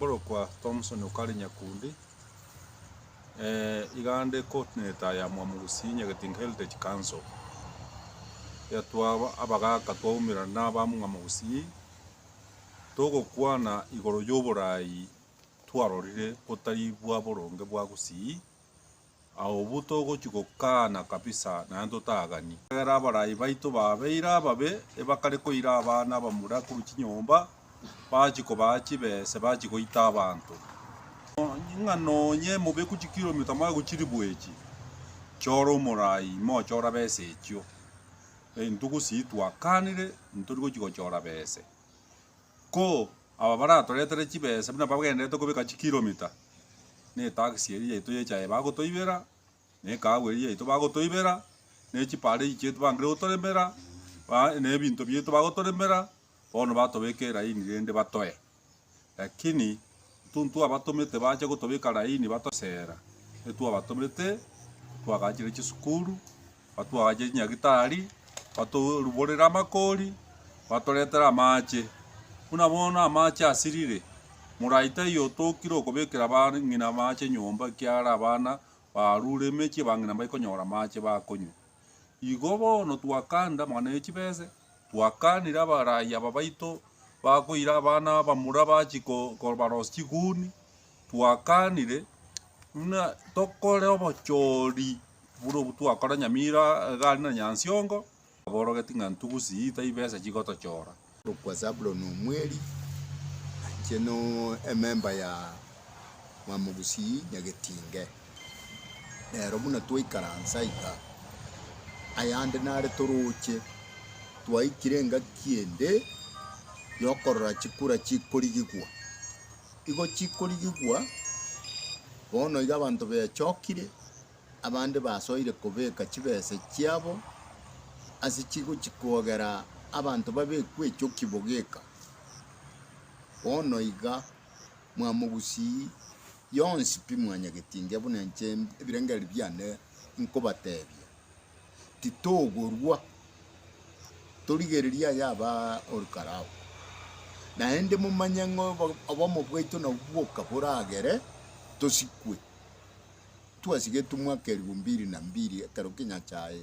Okorokwa Thomson okare Nyakundi, igande ekotenete aya Mwamo Gusii Nyagetinga Heritage Council, iga twaba abagaka twaumera nabamwamo Gusii togokwana igoro yoboraai twarorire botari bwa boronge bwa Gusii. Aobwo togochia gokaana kabisa naende totagani. Ekiagera abarai baito babeire ababe, ebakare koira abana abamura korwa chinyomba, bachie kobaa chibese, bachie goita abanto. Ng'a nonye mobeku chikiromita moe gochiribu echi, chora omorai ime ochora bese echio. Entugusi ii twakaanire, ntori gochia gochora bese. Ko aba baratoretere chibesa buna bagenderete kobeka chikiromita, netaxi eria yaito y'echae bagotoibera, na ekahawa eria yaito bagotoibera, ne chiparei chiaito bangire gotoremera, ba ne ebinto biaito bagotoremera, bono batobeka eraini rende batoe. Lakini Ntwabatomete bache gotobeka laini batoseera, ntwabatomete twagaachire chisukuru, batwagaachire chinyagitari, batoruborere amakori, batoretere amaache. Buna bono amaache asirire, morai taiyo otokire okobekera abang'ina amaache nyomba ekiagera abana barure emechie, abang'ina mbaikonyora amaache bakonywa. Igo bono twakanda amang'ana ye chibese, twakaanire abaraia babaito bakoira abana abamura bachie kobarosia chiguni, twakaanire buna tokore obochori buna obwo twakora Nyamira iga aria na Nyansiongo, aborogeti ng'a ntugusi ii tari besa chigotochora. Okwa Zabuloni omweri, inche no ememba ya Mwamogusii Nyagetinge, rero buna twaikaransa iga, ayande nare toroche, twaikire engaki ende yokorora chikura chikorigigwa. Igo chikorigigwa, bono iga abanto bechokire, Abande basoire kobeka chibesa chiabo ase chigochi kogera abanto babekwe echoki bogeka. Bono iga mwamogusii yonsi pi mwanyagetingia buna inche ebirengererio biane nkobatebia. Titogorwa, torigereria aya aba ore karao. Naende momanye ng'a obo- obomo bwaito nabwo bwoka boragere tosikwe. twasigetumwa aka elfu mbili na mbili ekero Kinyachae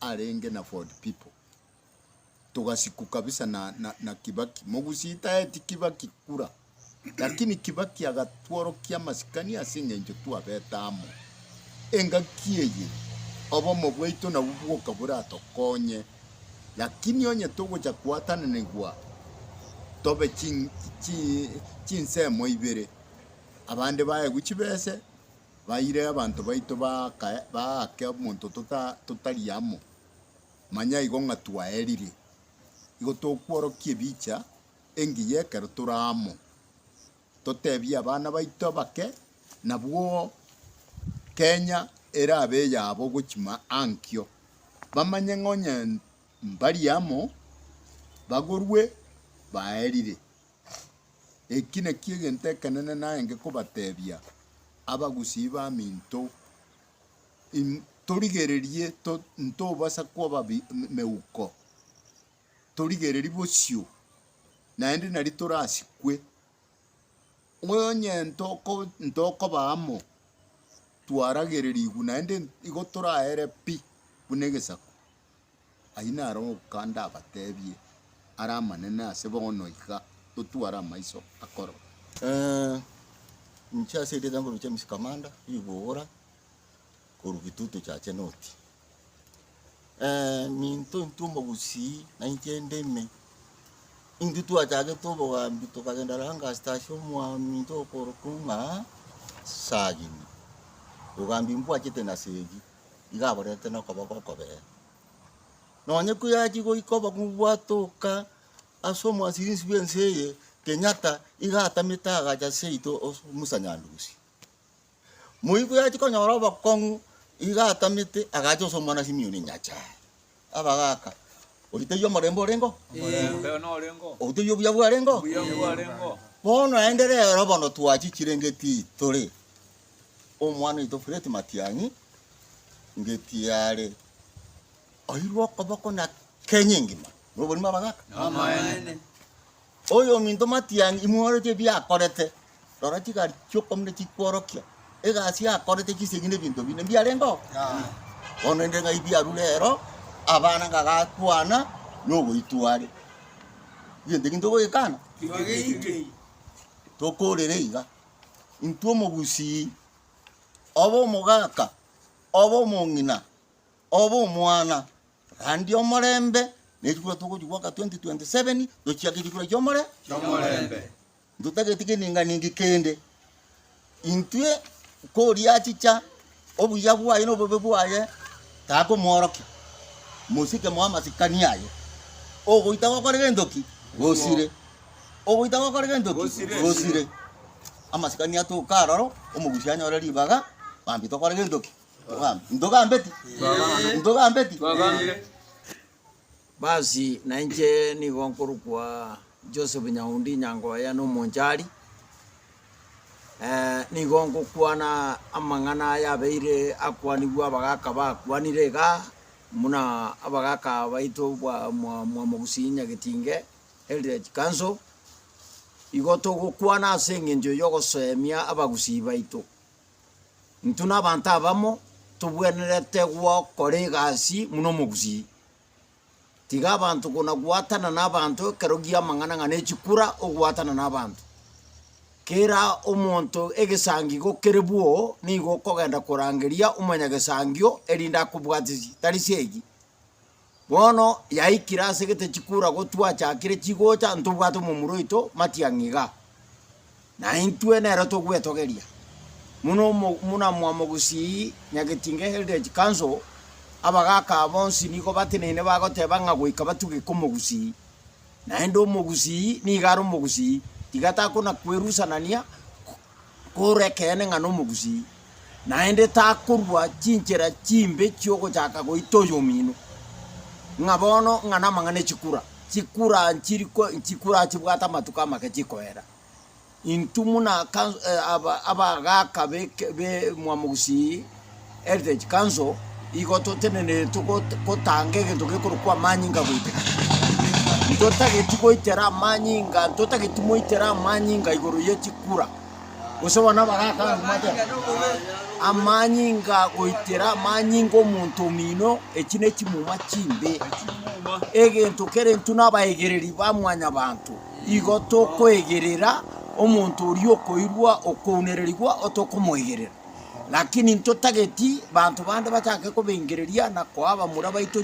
arenge na Ford Pipo togasikwa kabisa na, na, na Kibaki. Mogusii taeti Kibaki kura, lakini Kibaki agatworokia amasikani ase eng'encho twabete amo. Engaki eye obomo bwaito nabwo bwoka boratokonye, lakini onye togocha koatananigwa tobe chin, chi, chinsemo ibere, abande baegwe chibese baire abanto baito baake omonto totari amo, manya igo ng'a twaerire, igo tokworokia ebicha engiya ekero tore amo, totebie abana baito abake, nabwo Kenya erabe eyabo gochia ankio, bamanye ng'a onye mbari amo, bagorwe, baerire. Eki nakio egento ekenene narenge kobatebia, abagusii baminto, im- torigererie to- ntobasa kwaba bi- meuko, torigererie bosio, naende nari torasikwe. Onye ntoko ntokoba amo, twaragererigwe naende igo toraere pi buna egesaku. Ayio naro oka ndabateebie are amanene ase bono iga totware amaiso akorora. Inche ase erieta nkorwa James Kamanda Ribugura korwa Gitutu Chache North. Minto intwe omogusii na inche ndeme, intwe twachagete obogambi tokagenda Langastaa ase omwaminto okorokwa ng'a Sagini, bogambi mbwachete na Segi. igo aborente nokoboko okobee. Nonye koyachia goika obong'u bwatoka ase omwasirinsi bwense eye, Kenyatta iga atamete agacha seito ase Musa Nyandusi. Moi koyachia konyora obokong'u iga atamete agacha ase omwana Simion Nyachae. Abagaaka, Oria taiyo omorembe oreng'o? Oria taiyo obuya bwareng'o? Bono naende rero bono twachichire ng'iti tore omwana oito Fred Matiang'i, ng'iti yare oirwe okoboko na Kenya engima. Nobonima abagaaka? Oyominto matiani imworetie ebiakorete, rora chigari chi'okomina chikworokia, egasi yakorete chisegi nebinto binde mbiarengeo? Bono rende ng'ai biarure rero abana ngagakwana nogoitwa are? Egento eke ntogoyekana? Tokorere iga, intwe omogusii, obe omogaka, obe omong'ina, obe omwana, Naende omorembe nechikura togochia goaka 2027 tochiake chikura chiomore chiomorembe. Ntotageti geninga ningi kende. Intwe koria achicha obuya bwaye na obobe bwaye takomworokia. Mosike moe amasikani aye. Ogoita gokore gentoki gosire. Ogoita gokore gentoki gosire. gosire. Amasikani atoka aroro omogusi anyore ribaga bambi tokore gentoki. Ntogambeti? Ntogambeti? Basi nainche nigo nkorokwa Joseph Nyaundi Nyangoya na Omonchari, eh, nigo ngokwana amang'ana aya abeire akwanigwe abagaka bakwanire iga buna abagaka baito bwa mwa- Mwamogusii Nyagetinge, Eldred Council, igo togokwana ase eng'encho ya ogosoemia abagusii baito. Intwe nabaanto abamo tobwenerete gokora egasi buna omogusii. Tiga abanto konagoatana nabaanto ekero gia amang'ana ng'a nechikura ogoatana nabaanto. Kera omonto egesangigo kere bwoo nigo okogenda korangeria omonyagesangio erinde akobwatisi, tari seegi. Bono yaikire ase gete chikura gotwachakire chigocha ntobwate omomura oito matiang'i iga. Na intwe nere togwetogeria muno omo muna mwamogusii nyagetinga eldech council abagaka aa bonsi nigo bateneine bagoteba ng'a goika batugeke omogusii. Naende omogusii nigo are omogusii tiga takona kwerusanania. Korwa ekeene ng'a nomogusii, naende takorua chinchera chimbe chi'ogochaka goita oyomino, ng'a bono ng'a namang'ana echikura, chikura nchiri ko chikura achibwate amatuko amake chikoera. Intwe buna kanso abagaka beke bemwa mogusii. Heritage Council igo totenenerete gotanga egento gekorokwa amanyinga goiteka. Ntotageti goitera amanyinga, ntotageti moitere amanyinga igoro ye chikura. Gose bono abagaka amanyinga goitera amanyinga omonto omino, echi ne chimuma chimbe. Egento kere intwe na abaegereri ba mwanyabanto, igo tokoegerera omonto oria okoirwa, okounererigwa otokomoegerera. Lakini ntotageti banto bande bachake kobengereria na koa abamura baito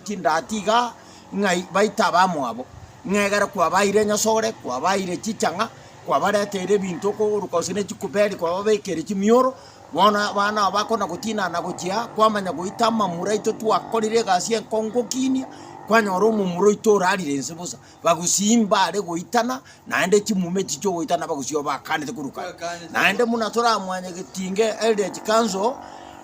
chindati iga, ng'a baite abamwabo, ng'a egere kwabaeire enyasore, kwabaeire chichang'a, kwabareteire ebinto okooroka gose ne chikuberi kwababekeire chimioro, bono abana aba bakona gotinana na gochia, kwamanya goita amamura aito twakorire egasi enkong'u gokinia, kwanyora omomura oito orarire inse bosa. bagusii mbare goitana, naende chimuma echi chi'ogoitana bagusii obakaanete korwa kare. Naende buna toramwanye getinge Eldred Council,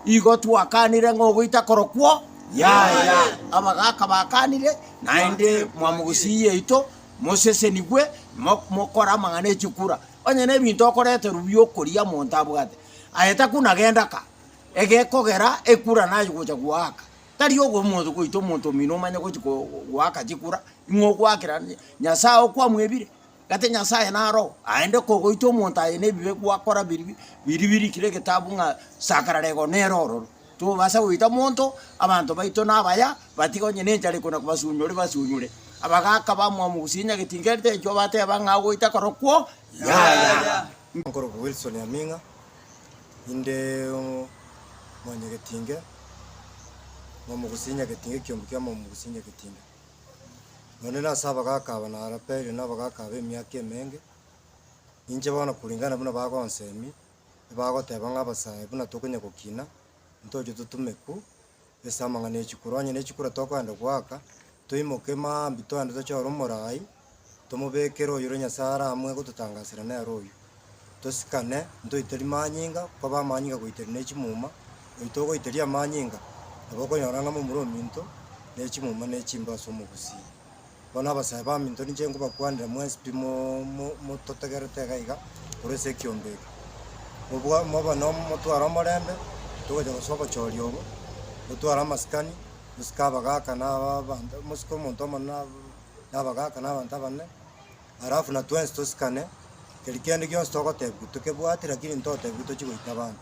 igo twakaanire ng'a ogoita korokwo yaya. Abagaaka bakaanire, naende mwamogusii yaito, mosesenigwe, mo- mokore amang'ana echikura. Onye nebinto okoreterwa bi'okoria monto abwate, aye takuna genda ka, egekogera ekura naye gocha goaka. Tari ogo omonto goita omonto omino omanye gochi ko goaka chikura, ing'o ogoakera nya Nyasaye okwamwebire? Gati Nyasaye naro oo? Aende kogoita omonto aye nebibe gwakora biri bi biri birikire egetabu ng'a sakara rego nere ororo. Tobasa goita monto, abanto baito nabaya, batiga onye ne enchara ekona kobasunyore basunyore, abagaka bamwamu gose enyagetinga erite enchwa bateba ng'a ogoita korokwo yaya. Nkorokwa Wilson Aming'a, inde omwanyagetinge bw'omogusi Nyagetinge ekiombe kia Mwamogusi Nyagetinge. Nonde nase abagaka aba narapeirwe nabagaka aba emiaka emenge, ninche bono kuringana buna bagonsemia, ebagoteba ng'a abasae buna tokonyagokina, ntoche totumeku, ase amang'ana e chikura. Onye ne chikura tokoenda goaka, toimoke mambia toende toche ore omoraai, tomobekere oyore Nyasae are amo egototangasera nere oyio. Tosikane, ntoiteri manyinga, nkobe amanyinga goiteri ne chimuma. Oyio togoiteria amanyinga, nabo okonyora ng'a momura ominto ne chimuma ne chimbe ase omogusii. Bono abasae baminto ninche nkobakwanera mwespi mo mo mototegerete iga iga korwa ase ekiombe eke. Mobwa mobe no motware omorembe, togocha gose obochori obo, motware amasikani, mosike abagaka na aba abanto mosike omonto omonene na ab- na abagaka na abanto abanene, alafu na twensi tosikane, keri kende gionsi togotebiwa tokebwati lakini ntotebiwe tochi goita abanto.